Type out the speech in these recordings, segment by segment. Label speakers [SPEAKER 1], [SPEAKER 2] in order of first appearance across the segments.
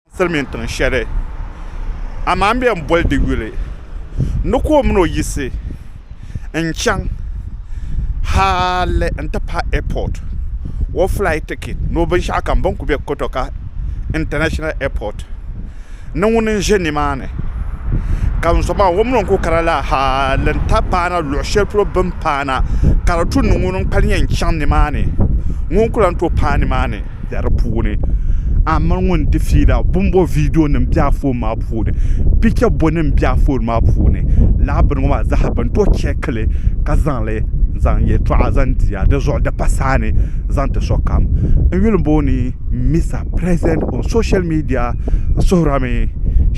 [SPEAKER 1] N silimiin tiŋ shɛli, amaa m be n boli di yuli ni ka o min o yiɣisi n chaŋ hali n ti pahi airport, o flight ticket ni o binshɛɣu kam bɛ ni kuli be Kotoka International Airport ni ŋuni n ʒe nimaani ka n zuɣumaa o min o ni kuli kana la hali n ti paana luɣ shɛli polo bɛ ni paana ka di tu ni ŋuni n kpalim yɛn chaŋ nimaani ŋuni n kuli lan tooi paai nimaani. bɛ di puuni a ni mali ŋun di fiila bonbo viidiyo nim bɛ a foon maa puuni picha bɔ nim bɛ a foon maa puuni lala bini ŋɔ maa zaa bini tooi chɛkili ka zaŋli n zaŋ yɛltɔɣa zaŋ diya dizuɣu di pa saa ni zaŋ ti sokam n yuli booni misa pirɛsidɛnt ɔn soshɛl miidiya n suhurila mi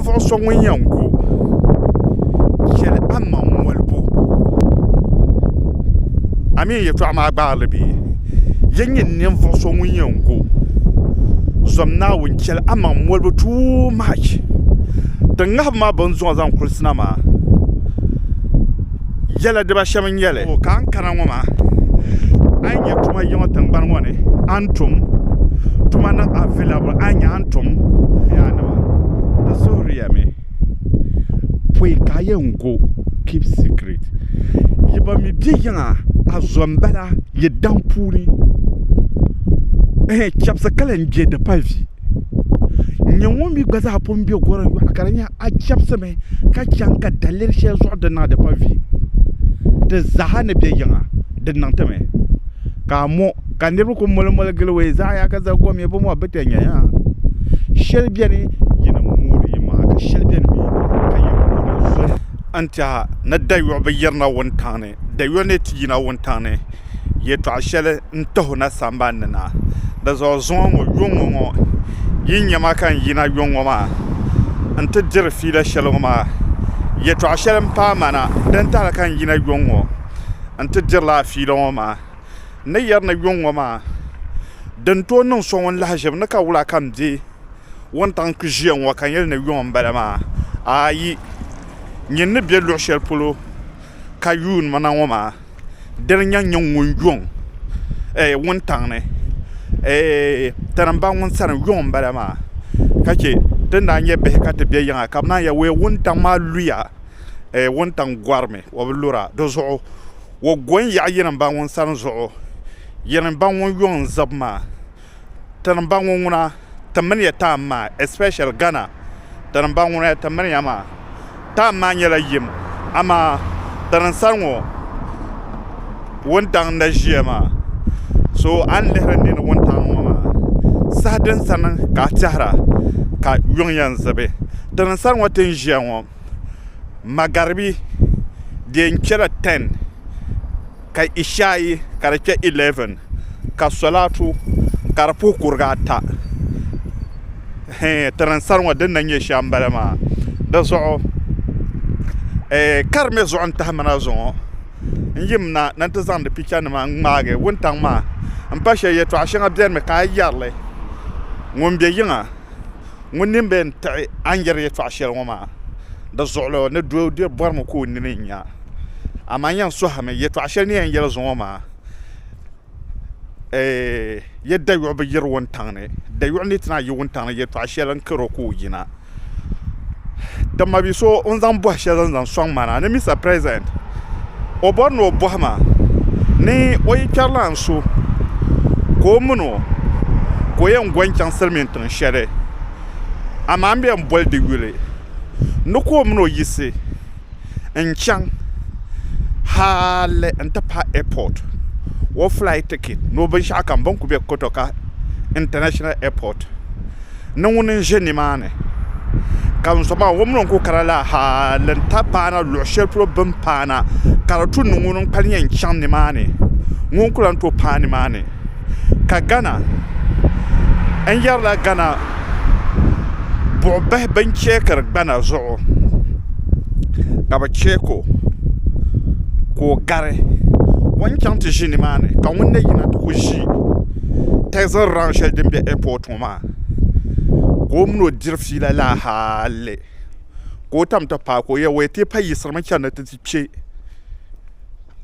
[SPEAKER 1] ninvuɣ so ŋun yɛn ku yɛli amaŋ molibu a mi yɛtɔɣa maa gbaai li bee? Yen nyɛ ninvuɣ so ŋun yɛn ku zom Naawuni chɛli amaŋ molibu too much. Din ŋahibu maa bɛ ni zuŋɔ zaŋ kulisi na maa yɛla diba shɛm n-nyɛ li. O ka n kana ŋɔ maa, a yi nya tuma yiŋɔ tiŋgbani ŋɔ ni, a ni tum tuma niŋ available. tom yaa nima di zuhuriya mi pɔi ka a yɛn go keep secret yi ba mi bɛ yiŋa a zo n bala yi daŋ puuni ɛhɛn chɛbisi ka lahi bɛ di pali vi n nya ŋɔ mi gba zaa pun bɛ gɔrim yɔɣu ka di nya a chɛbisi mi ka chaŋ ka daliri shɛli zuɣu di niŋ a di pali vi di zaa ni bɛ yiŋa di niŋ ti mi. ka a mo ka niriba kuli moli moli gili o zaɣa yaha ka zali gɔmɛ bɔ mɔɣu bi ti nya yaa shɛli bɛni yi ni moori yi maŋa ka shɛli bɛni mi ka yi moori zoli n tiɛha ni dayɔɣu bi yiri na wuntaŋ ni dayɔɣu ni ti yina wuntaŋ ni yɛltɔɣa shɛli n tihi o na sanban ni na di zuɣu zuŋɔ ŋɔ yɔŋɔ ŋɔ yi nya ma ka n yina yɔŋɔ maa n ti diri fiila shɛli ŋɔ maa yɛltɔɣa shɛli n paai ma na din tahili ka n yina yɔŋɔ. n ti dirila a fiila ŋɔ maa. N ni yɛri ni yuŋ ŋɔ maa, di ni tooi niŋ so ŋun lahi ʒiri ni ka wula ka m be wuntaŋ kpi ʒiya ŋɔ ka n yɛli ni yuŋ m-bala maa, aayi, nyin ni be luɣ shɛli polo ka yuun ma na ŋɔ maa, dini n-yɛn nyɛ ŋun yuŋ ɛɛh wuntaŋ ni? Ɛɛh tani m-ba ŋun sani yuŋ m-bala maa, ka chɛ ti ni daa nyɛ bihi ka ti be yiŋa ka bɛ naan yɛli, Wee wuntaŋ maa luya eh, wuntaŋ gɔrimi, o bi lura. Di zuɣu o go n-yaɣi yirimba ŋun sani zuɣu, yirimba ŋun yuŋ n-zib maa. Tirimba ŋɔ ŋuna ti mini ya taam maa, especially Ghana tirimba ŋuna ya ti mini ya maa. Taam maa nyɛla yim, amaa tirim sani ŋɔ wuntaŋ n-na ʒiya maa. So a ni lihiri nini wuntaŋ ŋɔ maa, saha din sani ka a tɛhira ka yuŋ yɛn zibi. Tirim sani ŋɔ ti ni ʒiya ŋɔ. magaribi di yɛn kpɛla tɛn ka ishaayi ka di kpɛ ilɛvin ka solatu ka di puhi kurigi ata ti ni sari ŋɔ din na nyɛ shɛm n bala maa dizuɣu ka di mii zuɣu n tahamina zuŋɔ n yimina ni n ti zaŋdi picha nima n ŋmaagi wuntaŋ maa n pa shɛli yɛltɔɣa shɛŋa biɛni mi ka a yɛrili ŋun bɛ yiŋa Ŋun nini be n-tiɣi a ni yɛri yɛtɔɣ shɛli ŋɔ maa, di zuɣulo ni doo di bɔrimi ka o nini nya. Amaa n yɛn sɔhimi yɛtɔɣ shɛli ni yɛn yɛli zuɣu ŋɔ maa, Eeh! Yɛ dayuɣu bi yiri wuntaŋ ni, dayuɣu ni ti naai yi wuntaŋ ni yɛtɔɣ shɛli n-kar o ka o yina. Ti ma bi so o ni zaŋ bɔhi shɛli zaŋ sɔŋ ma na ni Mister President, o bɔri ni o bɔhi ma ni o yi kpɛri lan so ka o min o ka o yɛn go n-chaŋ silimiin tiŋ shɛli, amaa m be n boli di yuli ni ka o min o yiɣisi n chaŋ hali n ti pahi airport, o flight ticket ni o binshɛɣu kam bini kuli be Kotoka International Airport ni ŋuni n ʒe nimaani ka n zo maa o min o ni kuli kana la hali n ti paana luɣi shɛli polo bini paana ka di tu ni ŋuni n kpalim yɛn chaŋ nimaani ŋuni n kuli lan tooi paai nimaani. ka gana n yɛrila gana buɣubahi bin chɛkiri gbana zuɣu ka bi chɛko ka o gari o ni chaŋ ti ʒi nimaani ka ŋun na yina ti ku ʒi tɛzi raun shɛli din bɛ ɛpot ŋɔ maa ka o mini o diri fiila laa hali ka o tam ti paai ka o yɛli o yɛn tooi payisirimi chɛni ni ti ti kpɛ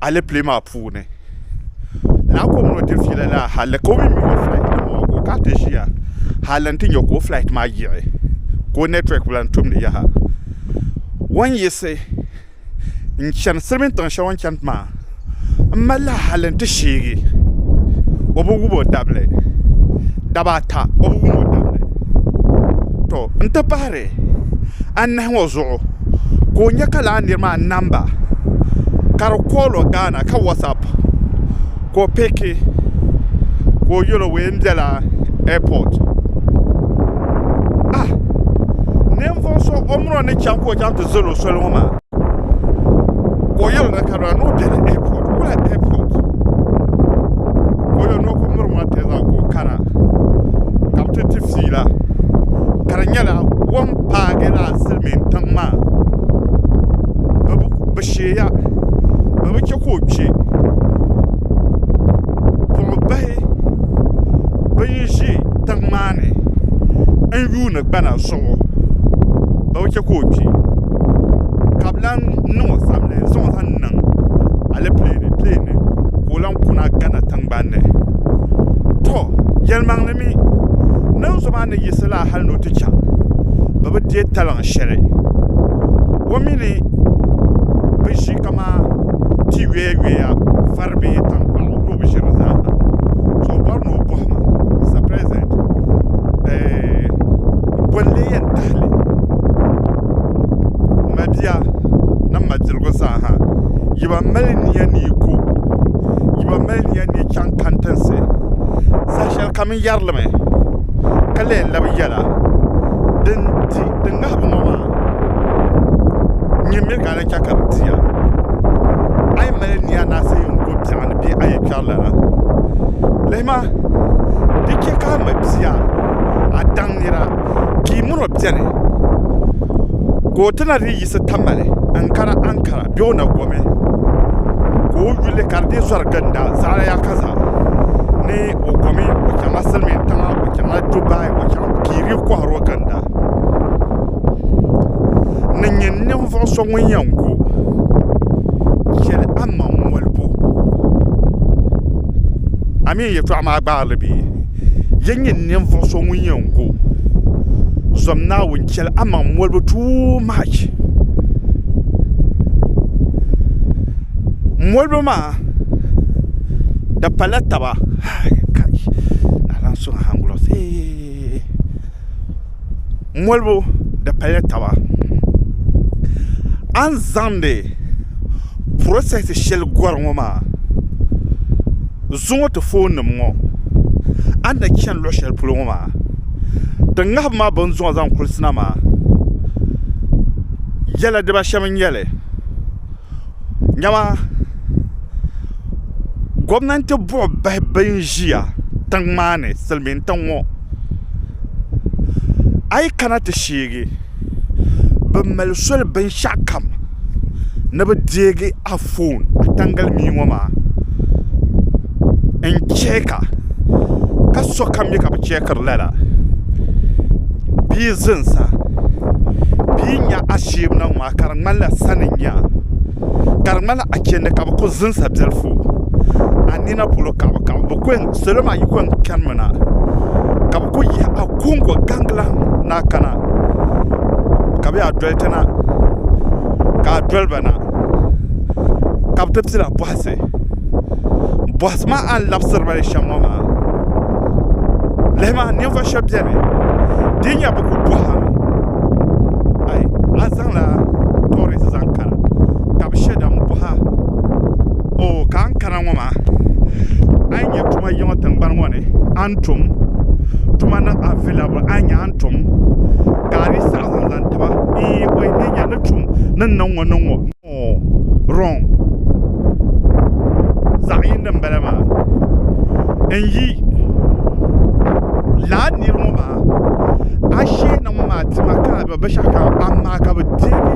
[SPEAKER 1] alɛpilɛ maa puuni lala ka o mini o diri fiila la hali ka o mii mi o flight nim maa ka o kana ti ʒiya hali n ti nyɛ ka o flight maa yiɣi ka o network bi lahi tumdi yaha o ni yiɣisi n chɛni silimin tiŋ shɛli o ni chɛni maa n malila hali n ti sheegi o bi wum o dabili daba ata o bi wum o dabili to n ti pahari niriba anahi ŋɔ zuɣu ka o nya ka lala niri maa namba ka di call o Ghana ka whatsapp ka o pick ka o yel o mi m-bela airport ah ninvuɣ so o mini o ni chaŋ ka o chaŋ ti zali o soli ŋɔ maa. ka o yɛli na ka na ni o bɛ di airport wula airport ka o yɛli ni o ku miri ŋɔ tɛza ka o kana ka bi ti di fiila ka di nyɛla o ni paagi laa silmiin tiŋ maa bi sheeya bi bi chɛ ka o kpɛ buɣu bahi bin ʒi tiŋ maa ni n yuundi gbana zuɣu bi bi chɛ ka o kpɛ ka bi lahi niŋ o zabiri n zaŋɔ zaŋ niŋ alɛpilɛ ni ka o lahi kuna gana tingbanni to yilimaŋli mii niŋ so maa ni yiɣisi laa hali ni o ti chɛŋ bi bi deei taliŋ shɛli o mii ni bi ʒi kamani tia yoya yoya bari bɛ ye tankpaɣu ni o bi ʒiri di zaa ha so o bɔri ni o bɔhi ma Mister President m boli leei yɛn tahili m ma bia ni m ma diligu zaa ha yi ba mali nia ni yi ko yi ba mali nia ni yi chaŋ kantinsi saha shɛli kam n yɛri li mi ka lee labi yɛla din di din ŋahibu ŋɔ maa nyɛ mi ka chɛ ka di di a. A yi mali nia naɣisi n go biɛɣu ni bee a yi kpɛri lana, lihi ma, di chɛ ka a ma bia, a daŋ nira, ka yi min o beni, ka o ti na dii yiɣisi tamali n kana Ankara bee o na gomi ka o yuli ka di dii zɔri ginda zaɣila ya ka zaɣ ni o gomi o chaŋla silimiintiŋa o chaŋla Dubai o chaŋ ka yi dii kɔhiri o ginda. ni nyɛ ninvuɣ so ŋun yɛn ku, chɛli a maŋ molibu. A mi yɛtɔɣ maa gbaai li bee? Yen nyɛ ninvuɣ so ŋun yɛn ku, zom Naawuni chɛli a maŋ molibu too much. Molibu maa di pala taba. molibu di paya taba a ni zaŋdi process shɛli gɔri ŋɔ maa zuŋɔ ti foon nim ŋɔ a ni na chani luɣ shɛli polo ŋɔ maa din ŋahibu ma bini zuŋɔ zaŋ kulisi na maa yɛla diba shɛm n nyɛli dama gomnanti buɣi bahi bɛ n ʒiya tiŋ maa ni silmiin tiŋ ŋɔ a yi kana ti sheegi bɛ mali soli binshɛɣukam ni bɛ deegi a foon a taŋgalimia ŋɔ maa n-chɛɛka ka sokam mi ka bɛ chɛɛkiri lala bɛ yi zinsi a bɛ yi nya asheemi niŋ maa ka di ŋmanila sani n-nya a ka di ŋmanila achɛndi ka bi ku zinsa biɛlifu a nina polo ka salo maa yi ku yɛn kanimi na ka bi ku yihi agogo gangilaŋ ni a kana ka bi yaa doli ti na ka a doliba na ka bi ti pila bɔhisi bɔhisi maa a ni labisiri ba li shɛm ŋɔ maa lihi maa ninvuɣu shɛba biɛni di ni nyɛ bi ku bɔhira a zaŋla toori zaŋ kana ata ka bi shɛ da n boha oo ka a ni kana ŋo maa a yi nyɛ tuma yiŋa tingbani ŋo ni a ni tum tuma niŋ avɛilabili a ni nyɛ a ni tum ka a dii saɣam zaŋ zaŋ tiba ee o yi nyɛ ni tum ni ni niŋ ŋo niŋ ŋo noo rɔng zaɣ yindi n bala maa n yi lahi niri ŋo maa a sheeni ŋo maa tima ka a bɛ binshaɣu kam amaa ka bi deegi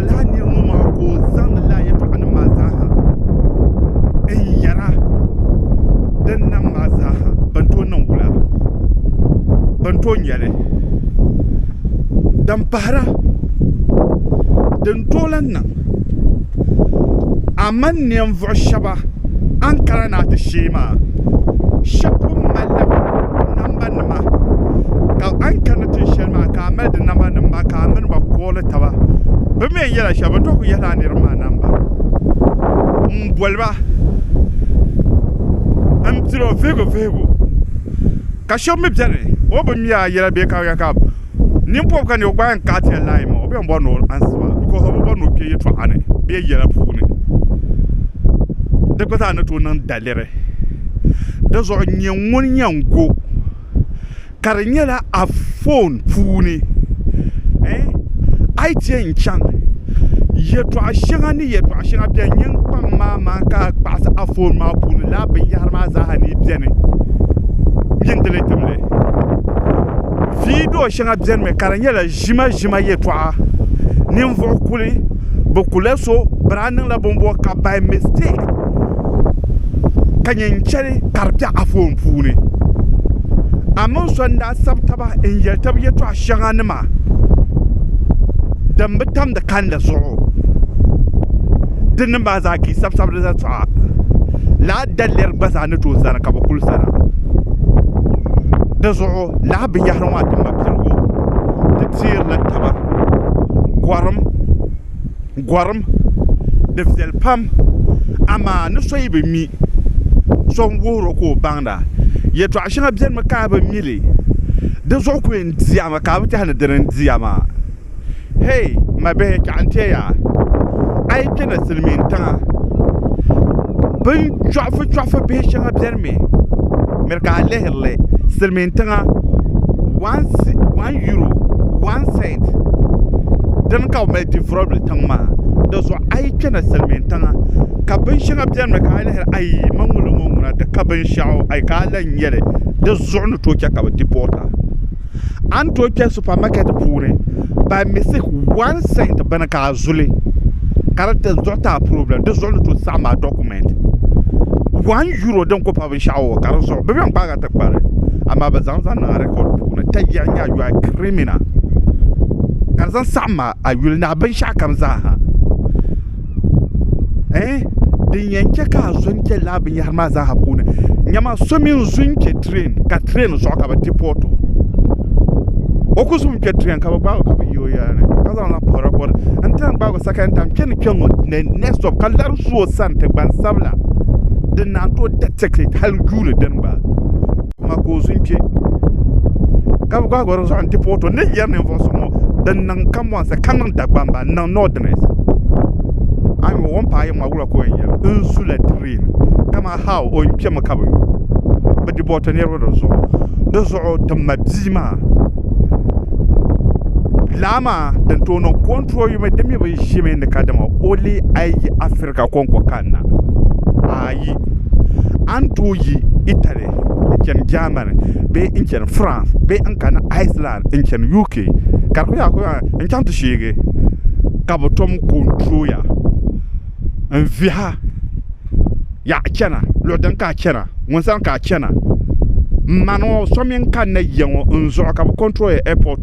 [SPEAKER 1] laa nir ŋɔ maa ka o zaŋdi laa yɛtɔɣanim maa zaaha n-yɛra din nam maa zaaha bɛn tooi niŋ wula, bɛn tooi nya li. Din pahira, din tooi lan niŋ a mani ninvuɣ shɛba a ni kana ni a ti sheei maa, shɛb pun malila nambani. ti ma ka a ni kanna tin shɛli maa ka a mali di namba nim maa ka a mini ba kooli taba bi mi n yɛla shɛli bin tɔhi ku yɛhila a niriba maa namba n boli ba n tiri o vihigu vihigu ka shɛba mi bɛni o bi mi a yɛla bee ka ka nin pɔbi ka ni o gba yɛn kaɣi ti ya layi maa o bɛn bɔri ni o ansi ba because o bi bɔri ni o kpɛ yɛtɔɣa ni bee yɛla puuni di gba zaa ni tooi niŋ dali. tiri di zuɣu n nyɛ ŋun yɛn go ka di nyɛla anfoon puuni a yi chɛ n chaŋ yɛltɔɣa shɛŋa ni yɛltɔɣa shɛŋa biɛni n yɛn kpaŋ maa maa ka kpaɣisi anfoon maa puuni lala binyahari maa zaa ni biɛni n yin dili timli viidiyoo shɛŋa biɛni mi ka di nyɛla ʒimaʒima yɛltɔɣa ninvuɣu kuli bi kuli so bini a niŋla bini bɔŋɔ ka by mistake ka nyɛ n chɛli ka di bɛ anfooni puuni a mini so n daa sabi taba n yɛli tabi yɛltɔɣa shɛŋa nima din bi tam di kandi zuɣu di ni maa zaa ka yi sabi sabiri yɛltɔɣa lala daliri gba zaa ni tooi zani ka bi kuli zali di zuɣu lala binyahari ŋɔ a dini mali piligu. teerila taba gɔrim gɔrim di viɛli pam amaa ni so yi bi mi so n-wuhir o ka o baŋda yɛtɔɣ shɛŋa benimi ka a bi mi li di zuɣu ku yɛn diɛmi ka a bi tɛha ni dini n-dia maa hee ma bihi chɛɣu n-ti ya a yi kpe na silimiintiŋa binchɔɣifuchɔɣifu bihi shɛŋa benimi Spain. Miri ka a lihiri li, silimiin tiŋa one euro, one cent, dini ka bɛ mali developed tiŋ maa. Di zuɣu a yi kpɛna silimiin tiŋa ka binshɛŋa beni mi ka a lihiri ayi man ŋuni n-ŋɔ ŋuna di ka binshɛɣu ayi ka a lahi nya li di zuɣu ni tooi che ka bɛ deport a. a ni tooi kpɛ supamakɛt puuni by mistake one cent bini ka a zuli ka di ti zuɣu taa problem di zuɣu ni tooi saɣam a document one euro din ku pa binshaɣu o ka di zuɣu bi bɛn kpaag a ti kpari amaa bi zaŋ zaŋ niŋ a record puuni ka yɛli nya you are a criminal ka di zaŋ saɣam a a yuli ni a binshaɣu kam zaa ha eh din yɛn chɛ ka a zo n chɛ lala binyɛhiri maa zaaha puuni nyama so mini zo n chɛ tireen ka tireen zuɣu ka bi ti port o o ku zo n kpɛ tireen ka bi gbaag o ka bi yi o yɛla ni ka zaŋ la puhiri kɔri n ti lahi gbaag o second time kpɛ ni kpɛ ŋɔ next stop ka lari su o sani ti gbansabila din naan tooi da tick it hali guuri dini gba Amaa ka o zu n-kpe, ka bi gbaag o di zuɣu nti puhi o, To, n ni yɛri ninvuɣ so ŋɔ din niŋ kambɔnsi, ka niŋ Dagbamba, n-niŋ Northerners. A ni yuli o ni paai yiŋ maa, wula ka o yɛn yɛli? N zu la train, kaman how o ni kpemi ka bi yo bɛ deporti niriba di zuɣu. Di zuɣu ti ma bia maa laa maa din tooi niŋ control yuma, di mi bi ʒimi ni kadama o leei a yi yi Africa kɔŋko kanna, aayi! A ni tooi yi Italy. Yunaited n chani Germany bee n chani France bee n kani Iceland n chani UK ka di ku yɛli kuraa n chaŋ ti sheegi ka bi tom konturoya n viha yaɣa chana luɣu din ka a chana ŋun sani ka a chana n ma ŋɔ so mini kanna yiya ŋɔ n zuɣu ka bi konturoya ɛpɔt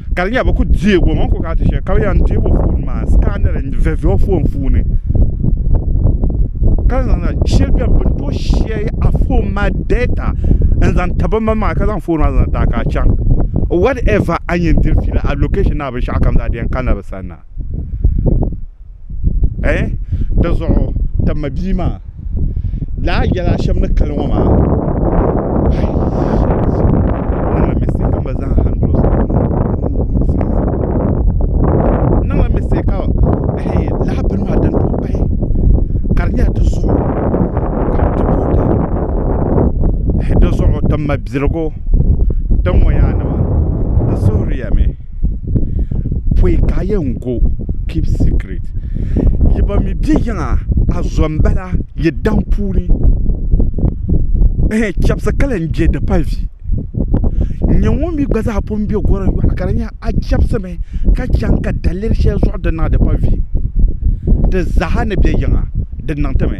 [SPEAKER 1] ka di nyɛla bi ku deeg o mi ku kana ti shɛli ka bi yɛn deeg o foon maa scanner n viɛviɛ o foon puuni ka zaŋ na shɛli biɛni bi ni tooi shɛri a foon maa data n zaŋ ti bin bala maa ka zaŋ foon maa zaŋ ti a ka a chaŋ whatever a ni yɛn diri fiila a location ni a binshaɣu kam zaa di yɛn kanila bi sani na eh di zuɣu ti ma bia maa laa yɛla shɛm ni kali ŋɔ maa niŋla mistake ka laa bini maa din tooi pahi ka di nyɛla di zuɣu ka di booni di zuɣu ti ma birigu din ŋɔ yaanima di suhuriya mi pɔi ka a yɛn go keep secret yi ba mi bɛ yiŋa a zo n bala yi daŋ puuni ɛhɛn chɛbisi ka lahi je di pali vi n nyɛ ŋun mi gba zaa pun bɛ gɔri yɔɣu ka di nyɛ a chɛbisi mi ka chaŋ ka daliri shɛli zuɣu di niŋ a di pali vi di zaa ni bɛ yiŋa di niŋ ti mi.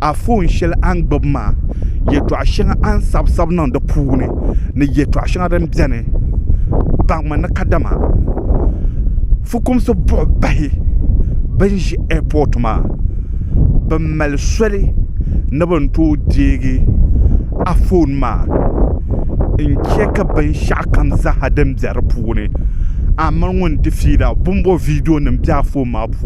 [SPEAKER 1] Anfooni shɛli a ni gbubi maa yɛltɔɣa shɛŋa a ni sabi sabi niŋ di puuni ni yɛltɔɣa shɛŋa din biɛni baŋmi ni kadama fukumsi buɣi bahi bi ni ʒi ɛapɔt maa bi mali soli ni bi ni tooi deegi Anfooni maa n chɛɛki binshaɣu kam zaaha din bɛ di puuni a mini ŋun di fiila bin bɔ viidiyo nim bɛ Anfooni maa puuni